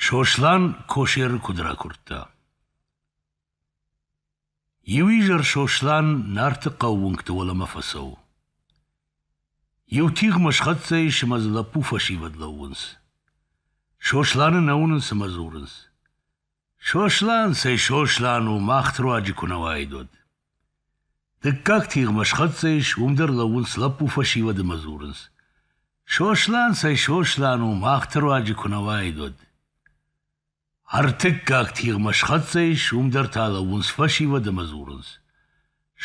Сослан косӕры куыд ракуырдта. Иу изӕр Сослан Нарты хъӕу уынгты уӕлӕмӕ фӕцӕуы. Иу тигъмӕ схӕццӕ ис ӕмӕ дзы лӕппу фӕсивӕд лӕууынц. Сосланы нӕ уынынц ӕмӕ дзурынц. Сослан цӕй Сослан у, мах ты руаджы куы нӕ уаид, уӕд. Дыккаг тигъмӕ схӕццӕ ис, уым дӕр лӕууынц лӕппу фӕсивӕд ӕмӕ дзурынц. Сослан цӕй Сослан у, мах ты руаджы куы нӕ уаид, уӕд. Ӕртыккаг тигъмӕ схӕццӕ ис, уым дӕр та лӕууынц фӕсивӕд ӕмӕ дзурынц.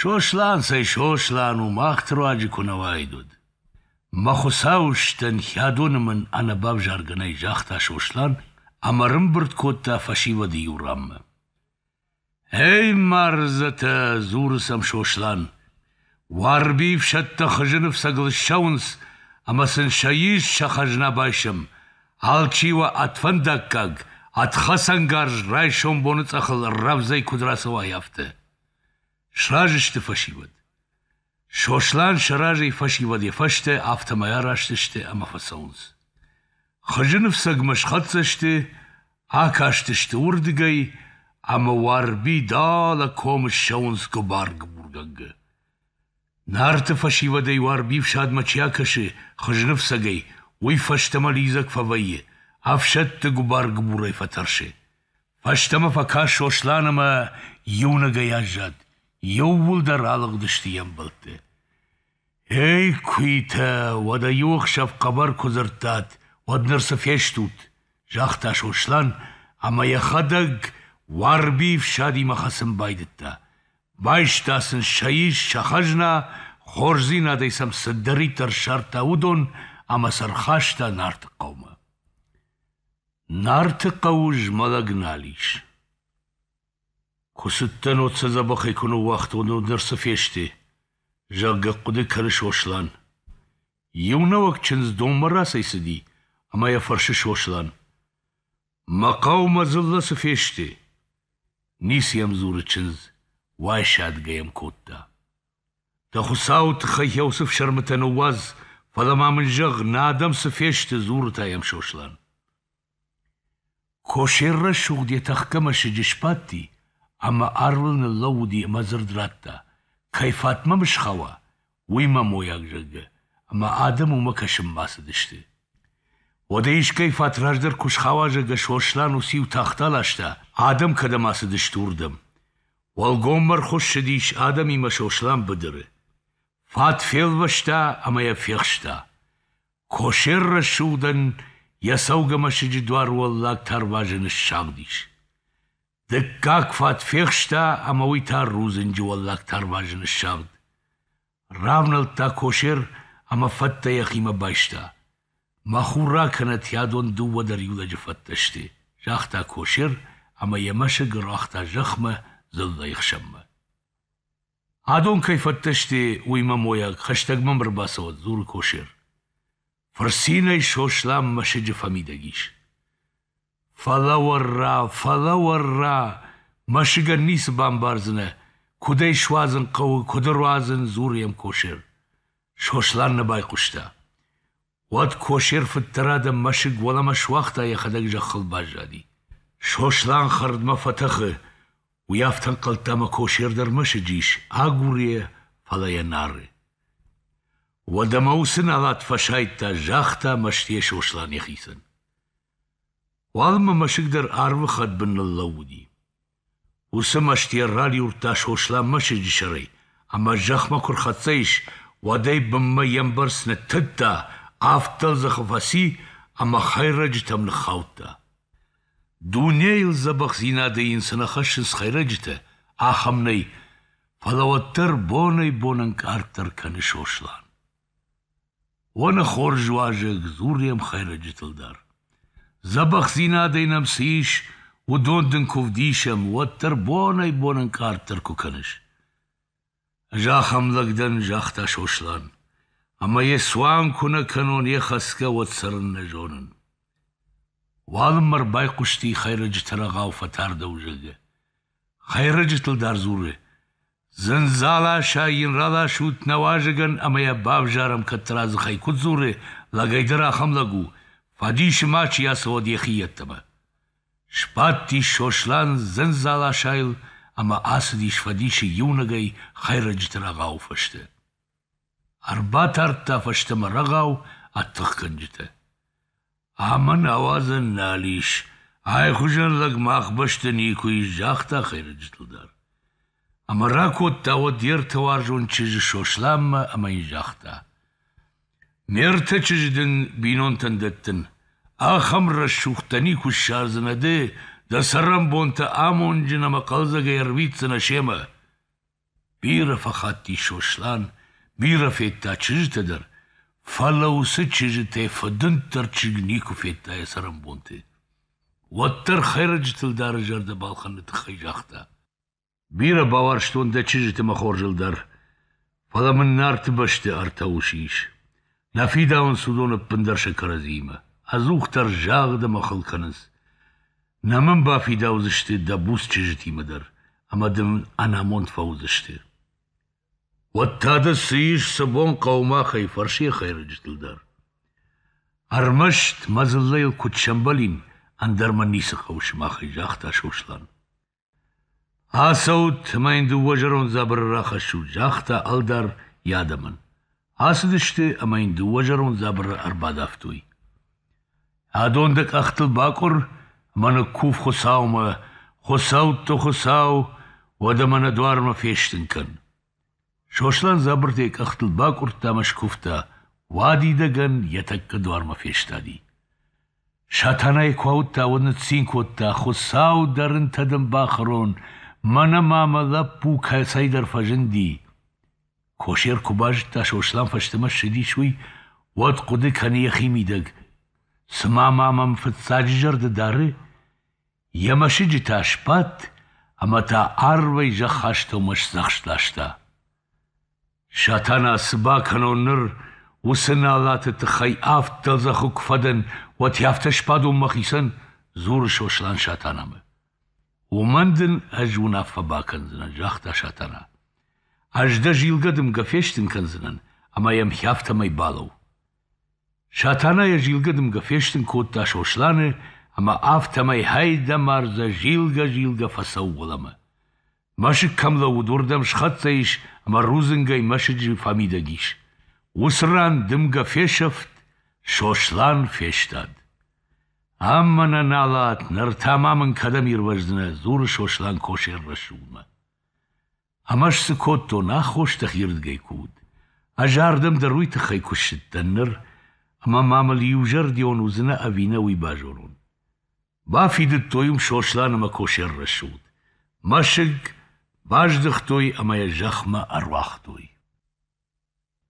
Сослан цӕй Сослан у, махты руаджы куы нӕ уаид уӕд! Мӕ хуыцауыстӕн, хӕдоны мын ӕнӕбавзаргӕ нӕй, загъта Сослан ӕмӕ рымбырд кодта фӕсивӕды иу ранмӕ. «Эй, мардзӕтӕ!» — дзуры сӕм Сослан. «Уарби ӕфсӕдтӕ хызыны фцӕгыл ссӕуынц ӕмӕ сын сӕ ис, сӕ хӕзна байсӕм. Алчи уӕ ӕд фӕндаггаг, ӕд хӕцӕнгарз райсом боныцъӕхыл рӕвдзӕй куыд рацӕуай, афтӕ. Сразы сты фӕсивӕд. Сослан сӕ разӕй фӕсивӕд йӕ фӕстӕ, афтӕмӕй араст сты ӕмӕ фӕцӕуынц. Хызы ныфсӕгмӕ схӕццӕ сты, акастысты уырдыгӕй, ӕмӕ Уарби далӕ комы ссӕуынц гуыбар-гуыбургӕнгӕ. Нарты фӕсивӕдӕй Уарби фсадмӕ чи акӕсы хызныфцӕгӕй, уый фӕстӕмӕ лидзӕг фӕвӕййы, ӕфсӕдты гуыбар-гуыбурӕй фӕтӕрсы. Фӕстӕмӕ фӕкаст Сослан ӕмӕ иунӕгӕй аззад. Иууылдӕр алыгъдысты йе мбӕлтты. «Эй, куитӕ, уӕдӕ иу ӕхсӕв хъӕбӕр куы дзырдтат, уӕд ныр цы фестут?» — загъта Сослан ӕмӕ йӕхӕдӕг Уарбийы фсадимӕ хӕцын байдыдта. Байста сын сӕ ис, сӕ хӕзна, хорздзинадӕй сӕм цыдӕриддӕр ссардта, уыдон ӕмӕ сӕ рхаста Нарты хъӕумӕ. Нарты хъӕуы змӕлӕг нал ис. Куы цыдтӕн, уӕд сӕ дзӕбӕхӕй куы ныууагътон, уӕд ныр цы фесты, зӕгъгӕ, хъуыды кӕны Сослан. Иу нӕуӕг чындз донмӕ рацӕйцыди, ӕмӕ йӕ фӕрсы Сослан. Мӕ хъӕу мӕ дзыллӕ цы фесты? Ницы йӕм дзуры чындз, уайсадгӕ йӕм кодта. Дӕ хуыцауы тыххӕй йӕ уыцы фсӕрмытӕ ныууадз, фӕлӕ ма мын зӕгъ, нӕ адӕм цы фесты, дзуры та йӕм Сослан. Косер рӕсугъд йӕ тӕхгӕ мӕсыджы сбадти ӕмӕ арлыл ныллӕууыди ӕмӕ дзырд радта, кӕй фатмӕ мысхӕуа, уый мӕ мойаг, зӕгъгӕ, ӕмӕ адӕм уымӕ кӕсын бацыдысты. Уӕдӕ искӕй фат раздӕр куы схауа, зӕгъгӕ, Сослан уыциу тахт аласта, адӕм кӕдӕм ацыдысты, уырдӕм. Уӕлгоммӕ ӕрхуыссыдис адӕмимӕ Сослан быдыры. Фат фелвӕста ӕмӕ йӕ фехста. Косер рӕсугъдӕн йӕ цӕугӕ мӕсыджы дуар уӕллаг тарвазы ныссагъдис. Дыккаг фат фехста ӕмӕ уый та рудзынджы уӕллаг тарвазы ныссагъд. Равнӕлдта косер ӕмӕ фӕттӕ йӕхимӕ байста. Мӕ хура кӕнӕ тиадон дыууӕ дӕр иу лӕджы фӕттӕ сты, загъта косер ӕмӕ йӕ мӕсыг ӕруагъта зӕхмӕ дзыллӕйы хсӕнмӕ. Адон кӕй фӕддӕсте, уый мӕ мойаг, хӕстӕг мӕм ӕрбацӕуӕд, дзуры косер. Фырцинӕй Сослан мӕсыджы фӕмидӕг ис. Фӕлӕ-уӕррӕ, фӕлӕ-уӕррӕ, мӕсыгӕн ницы бамбардзынӕ, куыд ӕй суадзын хъӕуы, куыд ӕруадзын, дзуры йӕм косер. Сослан нӕ байхъуыста. Уӕд косер фыддӕр адӕм мӕсыг уӕлӕмӕ суагъта йӕхӕдӕг зӕххыл баззади. Сослан хӕрдмӕ фӕтӕхы, уый афтӕ ӕнхъӕлдта ӕмӕ косер дӕр мӕсыджы ис, агур йӕ, фӕлӕ йӕ нары. Уӕд ӕмӕ уыцы налат фӕсайдта, загъта мӕстыйӕ Сослан йӕхицӕн. Уалынмӕ мӕсыг дӕр арвы хӕдбын ныллӕууыди. Уыцы мӕстыйӕ ралиуырдта Сослан мӕсыджы сӕрӕй, ӕмӕ зӕхмӕ куы рхӕццӕ ис, уӕдӕй бынмӕ йе мбӕрц ныттыдта, авд дӕлдзӕхы фӕци ӕмӕ хӕйрӕджытӕм ныххаудта. Дунейыл дзӕбӕхдзинады йын цы нӕ хӕссынц хӕйрӕджытӕ, ахӕм нӕй, фӕлӕ уӕддӕр бонӕй-бон ӕнкъарддӕр кӕны Сослан. Уоны хорз уазӕг дзуры йӕм хӕйрӕджытыл дӕр. Дзӕбӕхдзинадӕй нӕм цы ис, уыдон дын куы вдисӕм, уӕддӕр бонӕй-бон ӕнкъарддӕр куы кӕныс. Ӕз ахӕм лӕг дӕн, загъта Сослан, ӕмӕ йӕ цуан куы нӕ кӕнон, йӕ хӕцгӕ уӕд цӕрын нӕ зонын. Уалынмӕ ӕрбайхъуысти хӕйрӕджыты рӕгъау фӕтардӕуы, зӕгъгӕ. Хӕйрӕджытыл дӕр дзуры, Дзындзаласӕй йын раласут нӕ уазӕгӕн ӕмӕ йӕ бавзарӕм кӕддӕра дзыхӕй куыд дзуры, лӕгӕй дӕр ахӕм лӕг у, фӕдисы ма чи ацӕуӕд йӕхи йеддӕмӕ. Сбадтис Сослан дзындзаласайыл ӕмӕ ацыдис фӕдисы иунӕгӕй хӕйрӕджыты рӕгъауы фӕстӕ. Ӕрбатардта фӕстӕмӕ рӕгъау ӕд тыхгӕнджытӕ. Ӕмӕ науӕдзӕн нал ис, айхуызӕн лӕг мах бӕсты никуы ис, загъта хӕйрӕджытыл дӕр. Ӕмӕ ракодта уӕд йе ртӕуарзон чызджы Сосланмӕ ӕмӕ йын загъта: Ме ртӕ чызджы дын бинонтӕн дӕттын. ахӕм рӕсугъд дӕ никуы ссардзынӕ ды, дӕ цӕрӕнбонтӕ амонджын ӕмӕ хъӕлдзӕгӕй ӕрвитдзынӕ семӕ. Бирӕ фӕхатти Сослан, бирӕ федта чызджытӕ дӕр, фӕлӕ уыцы чызджытӕй фыдынддӕр чызг никуы федта йӕ цӕрӕнбонты. Уӕддӕр хӕйрӕджытыл дары зӕрдӕ балхӕныны тыххӕй загъта: «Бирӕ бауарзтон дӕ чызджыты мӕ хорзыл дӕр, фӕлӕ мын Нарты бӕсты ӕртӕ усы ис. нӕ фидауынц уыдон ӕппындӕр сӕ кӕрӕдзиимӕ, ӕдзухдӕр загъд ӕмӕ хыл кӕнынц. Нӕ мын бафидаудзысты дӕ буц чызджытимӕ дӕр ӕмӕ дын ӕнамонд фӕуыдзысты. Уӕд та дӕ цы ис сӕ бон хъӕумӕхӕй фӕрсыйӕ хӕйрӕджытыл дӕр? Ӕрмӕст мӕ дзыллӕйыл куыд сӕмбӕлин, ӕндӕр мӕ ницы хъӕуы сымахӕй, загъта Сослан. Ацӕут ӕмӕ йын дыууӕ зӕронд дзабыры рахӕссут, загъта ӕлдар йӕ адӕмӕн. Ацыдысты ӕмӕ йын дыууӕ зӕронд дзабыры ӕрбадавтой. Адон дӕ къӕхтыл бакъуыр ӕмӕ ныккув Хуыцаумӕ, Хуыцӕутты Хуыцау, уӕдӕ мӕ нӕ дуармӕ фестын кӕн. Сослан дзабыртӕй къӕхтыл бакъуырдта ӕмӕ скуывта, уадидӕгӕн йӕ тӕккӕ дуармӕ фестади. Сатанайы куы ауыдта, уӕд ныццин кодта: «Хуыцау дӕ рынтӕ дын бахӕрон, мӕнӕ ма мӕ лӕппу кӕцӕйдӕр фӕзынди!» Косер куы базыдта, Сослан фӕстӕмӕ ссыдис, уый, уӕд хъуыды кӕны йӕхимидӕг: «Цымӕ ма мӕм фыццаджы зӕрды дары?» Йӕ мӕсыджытӕ сбадт ӕмӕ та арвӕй зӕххастӕумӕ сдзӕхст ласта. Сатана, цы бакӕнон ныр, уыцы налаты тыххӕй авд дӕлдзӕхы куы фӕдӕн, уӕд афтӕ сбадон мӕхицӕн? дзуры Сослан Сатанамӕ. Уымӕн дын ӕз уынаффӕ бакӕндзынӕн, загъта Сатана. Ӕз дӕ зилгӕ дымгӕ фестын кӕндзынӕн, ӕмӕ йӕм хӕфтӕмӕй балӕу. Сатана йӕ зилгӕ дымгӕ фестын кодта Сосланы ӕмӕ афтӕмӕй хӕйдӕмӕрзӕ зилгӕ-зилгӕ фӕцӕуы уӕлӕмӕ. Мӕсыг кӕм лӕууыд, уырдӕм схӕццӕ ис ӕмӕ рудзынгӕй мӕсыджы фӕмидӕг ис. Уыцы ран дымгӕ фесӕфт, Сослан фестад. «Ам мӕнӕ налат, ныр та ма мын кӕдӕм ирвӕздзынӕ?» — дзуры Сослан Косер рӕсугъдмӕ. Ӕмӕ цы кодтон, аххос дӕхирдгӕй куы уыд. Ӕз ардӕм дӕр уый тыххӕй куы ссыдтӕн ныр, ӕмӕ ма мыл иузӕрдион уыдзынӕ ӕви нӕ, уый базонон. Бафидыдтой уым Сослан ӕмӕ Косер рӕсугъд. Мӕсыг баздыхтой ӕмӕ йӕ зӕхмӕ ӕруагътой.